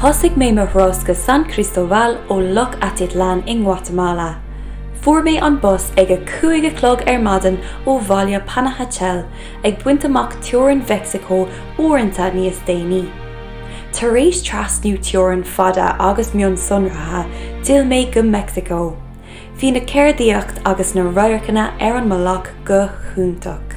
Thosaigh mé mo thuras go San Cristobal ó Loch Atitlán i nGuatamala. Fuair mé an bus ag a cúig a chlog ar maidin ó bhaile Panajachel, ag baint amach teorainn Mheicsiceo uaireanta níos déanaí. Tar éis trasnú teorann fada agus mionsonraithe, d'fhill mé go Meicsiceo. Bhí an cheardaíocht agus na radharcanna ar an mbealach go hiontach.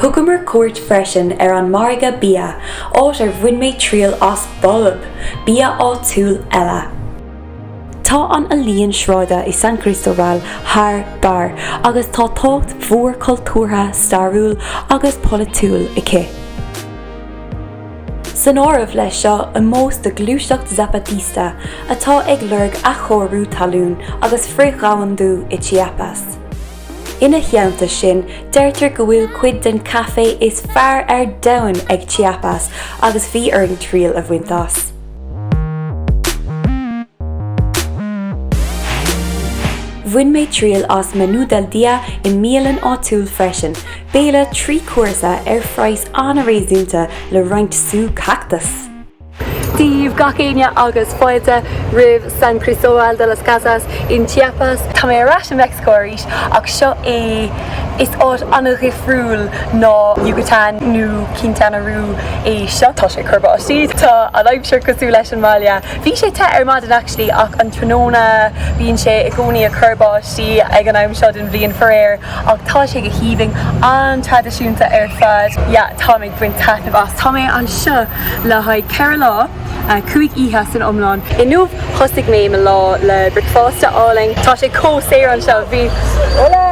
Thugamar cuairt freisin ar an margadh bia, áit ar bhain mé triail as bolb, bia áitiúil eile. Tá an ealaíon sráide i San Cristóbal thar barr agus tá tábhacht mhór cultúrtha, stairiúil agus polaitiúil aici. San áireamh leis seo ómós do ghluaiseacht Zapatista atá ag lorg athchóiriú talún agus frith-dhomhandú i Chiapas. Ina theannta sin, deirtear go bhfuil cuid den caife is fearr ar domhan ag Chiapas agus bhí orainn triail a bhaint as. Bhain mé triail as Menú del Día i mbialann áitiúil freisin, béile trí chúrsa ar phraghas an-réasúnta le roinnt sú cactas! Dia daoibh gach éinne agus fáilte roimh San Cristóbal de las Casas in Chiapas. Tá mé ar ais i Meicsiceo arís ach seo é Is áit an-dhifriúil ná Yucatán nó Quintana Roo é seo. Tá sé cur báistí, tá an aimsir cosúil leis an mbaile. Bhí sé te ar maidin actually ach an tráthnóna bíonn sé i gcónaí ag cur báistí ag an am seo den bhliain faraor ach tá sé go haoibhinn, an-traidisiúnta ar fad. Yeah, tá mé. baint taitneamh as. Tá mé anseo le haghaidh ceithre lá, cúig oíche san iomlán. Inniu thosaigh mé mo lá le bricfeasta álainn. Tá sé chomh saor anseo. Bhí hola!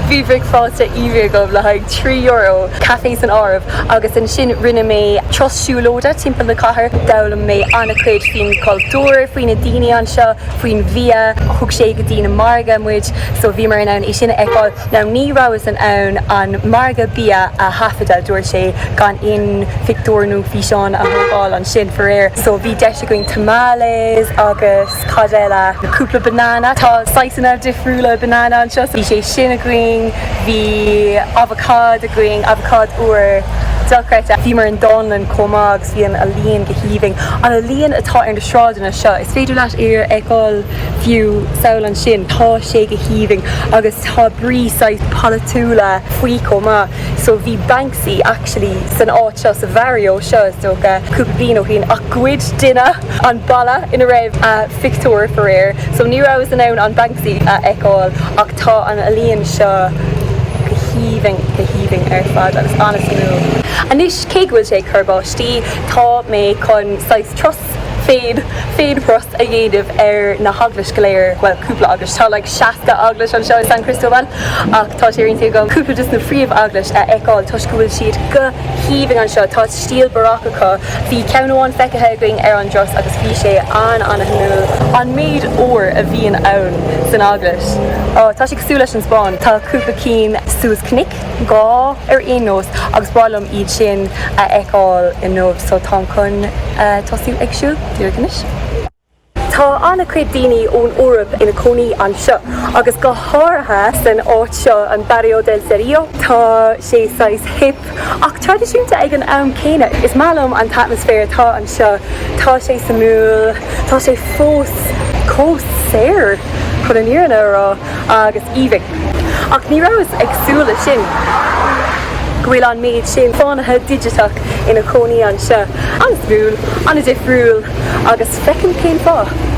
Bhí bricfeasta aoibhinn agam le haghaidh trí euro, caife san áireamh, agus ansin rinne mé turas siúlóide timpeall na cathair. D'fhoghlaim mé an-chuid faoin gcultúr, faoi na daoine anseo. faoin bhia. Thug sé go dtí na margaí muid so bhíomar in ann é sin a fheiceáil. Now ní rabhas in ann an margadh bia a thaifeadadh dúirt sé gan aon phictiúir nó físeáin a thógáil ansin faraor. So bhí deis againn tamales agus cad eile, cúpla banana, tá saghasanna difriúla banana anseo so bhí sé sin againn, bhí avocád againn, avocád úr dochreidte. Bhíomar i ndánlann chomh maith agus bhí an ealaíon go haoibhinn. An ealaíon atá ar na. sráideanna seo. Is féidir leat é a fheiceáil fiú sampla ansin. Tá sé go haoibhinn agus tá brí saghas polaitiúil faoi chomh maith. So bhí Banksy actually san áit seo, sa bharrio seo is dócha, cúpla bliain ó shin ach ghoid duine an balla ina raibh a phictiúr faraor. So ní rabhas in ann an Banksy a fheiceáil ach tá an ealaín seo go haoibhinn, go haoibhinn ar fad agus ana-shuimiúil. Anois cé go bhfuil sé ag cur báistí tá mé chun saghas. turas féid- féideartha a dhéanamh ar na heaglais go léir bhuel cúpla eaglais tá like 60 eaglais anseo i San Cristóbal ach tá sé ar intinn agam cúpla just na phríomh eaglaisí a fheiceáil toisc go bhfuil siad go haoibhinn anseo tá stíl baroque acu bhí ceann amháin feicthe againn ar an dturas agus bhí sé an ana shuimiúil an méid óir a bhíonn ann san eaglais tá sé cosúil leis an Spáinn tá cúpla cinn suas cnoic gá ar aon nós agus ba mhaith liom iad sin a fheiceáil inniu so táim chun tosú ag siúl díreach anois. Tá an-chuid daoine ón Eoraip ina cónaí anseo agus go háirithe san áit seo, an Barrio del Cerrillo. Tá sé saghas hip ach traidisiúnta ag an am céanna. Is maith liom an t-atmaisféar atá anseo, tá sé suimiúil, tá sé fós cosy chun an fhírinne a rá. agus aoibhinn. Ach ní raibh fhios agam roimhe sin go bhfuil an méid sin fánaithe digiteach ina gcónaí anseo. An-suimiúil, an-difriúil agus feicim cén fáth.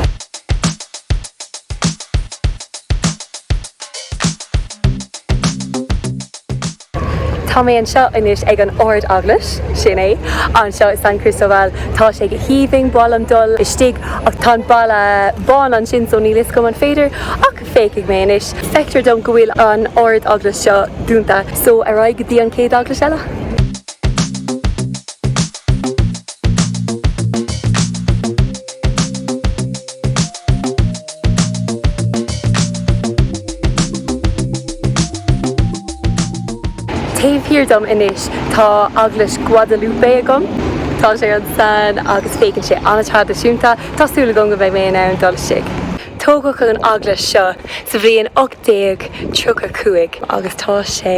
Tá mé anseo anois ag an Ard Eaglais, sin é, anseo i San Cristóbal. Tá sé go haoibhinn, ba mhaith liom dul istigh ach tá an balla bán ansin so níl fhios agam an féidir ach féachfaidh mé anois. Feictear dom go bhfuil an Ardeaglais seo dúnta so ar aghaidh go dtí an chéad eaglais eile. Taobh thiar dom anois tá Eaglais Guadalupe agam. Tá sé an-sean agus féachann sé an-traidisiúnta. Tá súil agam go mbeidh mé in ann dul istigh. Tógadh an eaglais seo sa bhliain 1835 agus tá sé.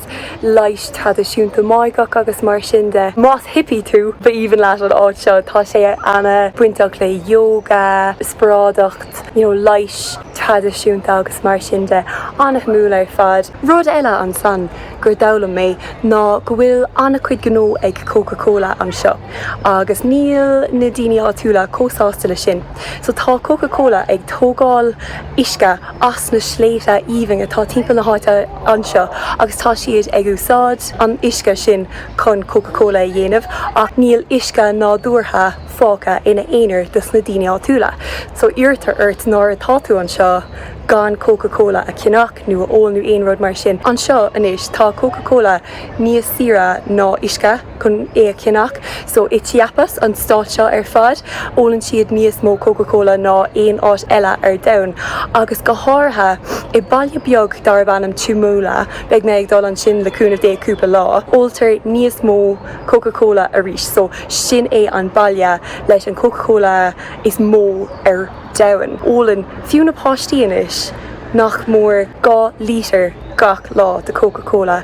Acht leighis traidisiúnta Máigheach agus mar sin de. Más hippie tú, ba aoibhinn leat an áit seo. Tá sé ana bainteach le yoga, spioradáltacht, you know, leighis traidisiúnta agus mar sin de. Ana-shuimiúil ar fad. Rud eile ansan gur d'fhoghlaim mé ná go bhfuil an-chuid gnó ag Coca Cola anseo. Agus níl na daoine áitiúla chomh sásta leis sin. So tá Coca Cola ag tógáil uisce as na sléibhte aoibhinn atá timpeall na háite anseo agus tá siad ag úsáid an uisce sin chun Coca Cola a dhéanamh ach níl uisce nádúrtha fágtha ina aonar dos na daoine áitiúla. So iarrtar ort nuair atá tú anseo gan Coca Cola a ceannach nó a ól nó aon rud mar sin anseo anois. Tá Coca Cola níos saoire ná uisce. chun é a cheannach. So i Chiapas, an stát seo ar fad, ólann siad níos mó Coca Cola ná aon áit eile ar domhan. Agus go háirithe i baile beag darb ainm Chamula, beidh mé ag dul ansin le cúnamh Dé cúpla lá, óltar níos mó Coca Cola arís. So sin é an baile leis an Coca Cola is mó ar domhan. Ólann fiú na páistí anois nach mór dhá lítear gach lá de Coca Cola.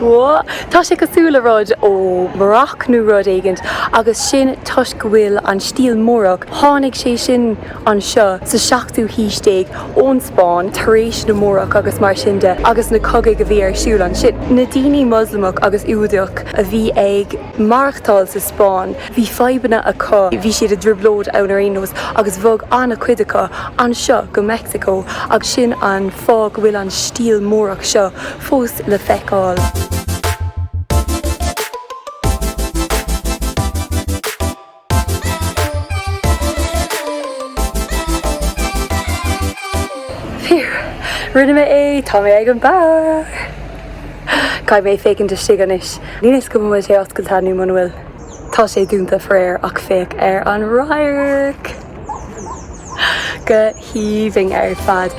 Whoa! Tá sé cosúil le rud ó Maracó nó rud éigint agus sin toisc go bhfuil an stíl Múrach, tháinig sé sin anseo sa seachtú haois déag ón Spáinn tar éis na Múrach agus mar sin de agus na cogaidh a bhí ar siúl ansin. Na daoine Moslamach agus Giúdach a bhí ag. maireachtáil sa Spáinn. Bhí fadhbanna acu, bhí siad i dtrioblóid ann ar aon nós agus bhog an-chuid acu anseo go Meicsiceo agus sin an fáth go bhfuil an stíl Múrach seo fós le feiceáil. Phew! Rinne mé é! Tá mé ag an barr! Caithfidh mé féachaint istigh anois. Níl fhios go bhfuil sé oscailte nó muna bhfuil. Tá sé dúnta, faraor, ach féach ar an radharc! Go haoibhinn ar fad!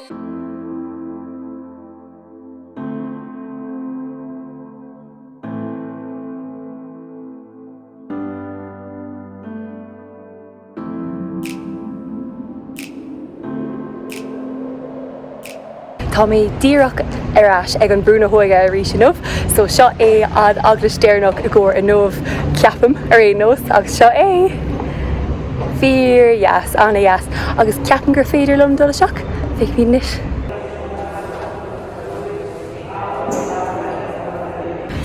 Tá mé díreach ar ais ag an Brú na hÓige arís inniu so seo é an eaglais deireanach i gcomhair inniu, ceapaim, ar aon nós, agus seo é. Fíordheas, an-dheas, agus ceapaim gur féidir liom dul isteach, féachfaimid anois.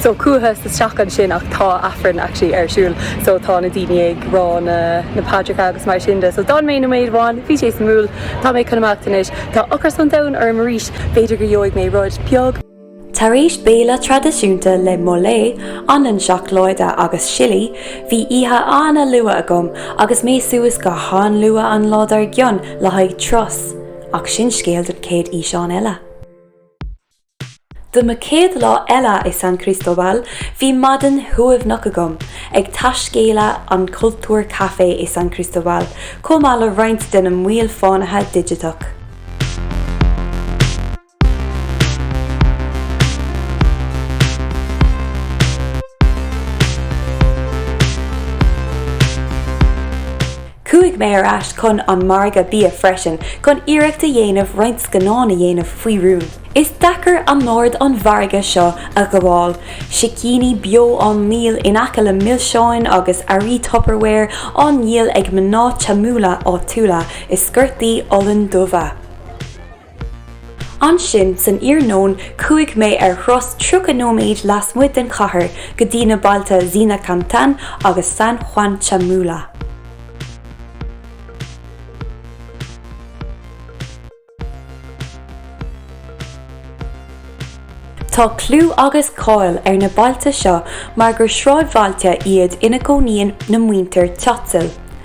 So chuadhas isteach ansin ach tá Aifreann actually ar siúl so tá na daoine ag rá na na paidreacha agus mar sin de so d'fhan mé noiméad amháin bhí sé suimiúil tá mé chun imeacht anois tá ocras an domhain orm arís b'fhéidir go gheobhaidh mé rud beag Tar éis béile traidisiúnta le mole, anlann seacláide agus sillí, bhí oíche an-luath agam agus mé suas go han-luath an lá dár gcionn le haghaidh turas. Ach sin scéal don chéad fhíseán eile. Do mo chéad lá eile i San Cristóbal, bhí maidin shuaimhneach agam ag taiscéaladh an Cultúr Café i San Cristóbal, chomh maith le roinnt de na Moil Fánaithe Digiteach. Chuaigh mé ar ais chun an mhargaidh bia freisin chun iarracht a dhéanamh roinnt scannán a dhéanamh faoi rún. Is deacair anord an mhargaidh seo a ghabháil, sicíní beo á ndíol in aice le milseáin agus earraí Tupperware á ndíol ag mná Chamula áitiúla i sciortaí olann dubha. Ansin san iarnóin chuaigh mé ar thuras 30 nóiméid lasmuigh den chathair go dtí na bailte Zinacantán agus San Juan Chamula. Tá clú agus cáil ar na bailte seo mar gur sráidbhailte iad ina gcónaíonn na muintir Tzotzil.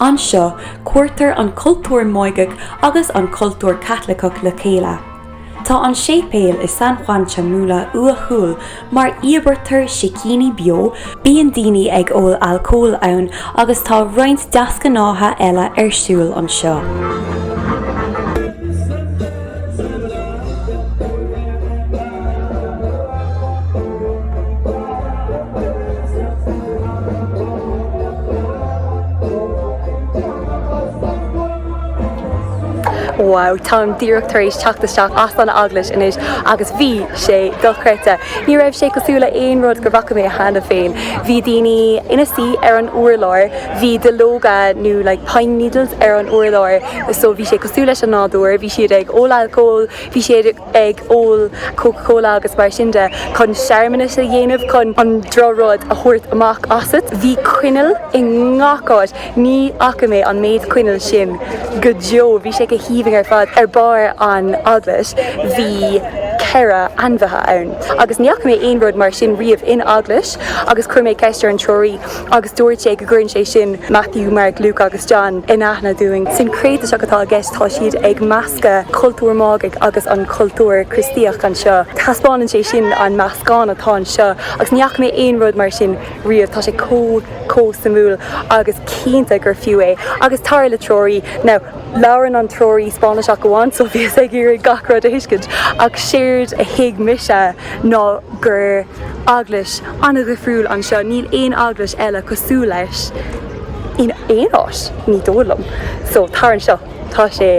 Anseo, cuirtear an cultúr Máigeach agus an cultúr Caitliceach le chéile. Tá an séipéal i San Juan Chamula uathúil mar íobraítear sicíní beo, bíonn daoine ag ól alcóil ann agus tá roinnt deasghnátha eile ar siúl anseo. Wow, táim díreach tar éis teacht isteach as an eaglais anois agus bhí sé dochreidte. Ní raibh sé cosúil le aon rud gur bhfaca mé cheana féin. Bhí daoine ina suí ar an urlár, bhí duilleoga nó like pine needles ar an urlár, so bhí sé cosúil leis an nádúr, bhí siad ag ól alcóil, bhí siad ag ól Coca Cola agus mar sin de chun searmanais a dhéanamh chun an drochrud a thabhairt amach asat. Bhí coinneal i ngach áit. Ní fhaca mé an méid coinneal sin go deo. Bhí sé go haoibhinn ar fad. Ar barr an Eaglais bhí ceithre ainmhithe ann agus ní fhaca mé aon rud mar sin riamh in Eaglais agus chuir mé ceist ar an treoraí. agus dúirt sé go gcuireann sé sin Matthew, Mark, Luke agus John in aithne dúinn. Sincréiteachas atá i gceist, tá siad ag meascadh cultúr Máigeach agus an cultúr Críostaíoch anseo. Taispeánann sé sin an meascán atá anseo agus ní fhaca mé aon rud mar sin riamh, tá sé chomh, chomh suimiúil agus cinnte gur fiú é. Agus tar le treoraí, now labhrann an treoraí Spáinneach amháin so bhíos ag iarraidh gach rud a thuiscint ach séard a thuig mise, ná gur Eaglais an-dhifriúil anseo, níl aon Eaglais eile cosúil leis in aon áit, ní dóigh liom, so tar anseo, tá sé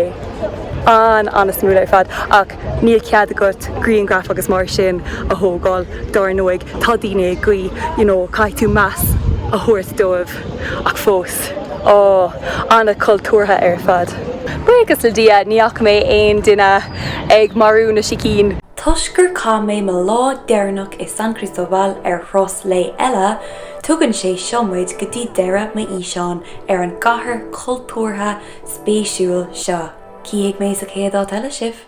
an, an-suimiúil ar fad, ach níl cead agat grianghraif agus mar sin a thógáil dár ndóigh, tá daoine ag guí, you know, caithfidh tú meas a thabhairt dóibh ach fós, oh, an-chultúrtha ar fad. Buíochas le Dia, ní fhaca mé aon duine ag marú na sicín. Toisc gur chaith mé mo lá deireanach i San Cristóbal ar thuras lae eile, tugann sé seo muid go dtí deireadh mo fhíseáin ar an gcathair chultúrtha spéisiúil seo. Cífidh mé sa chéad áit eile sibh!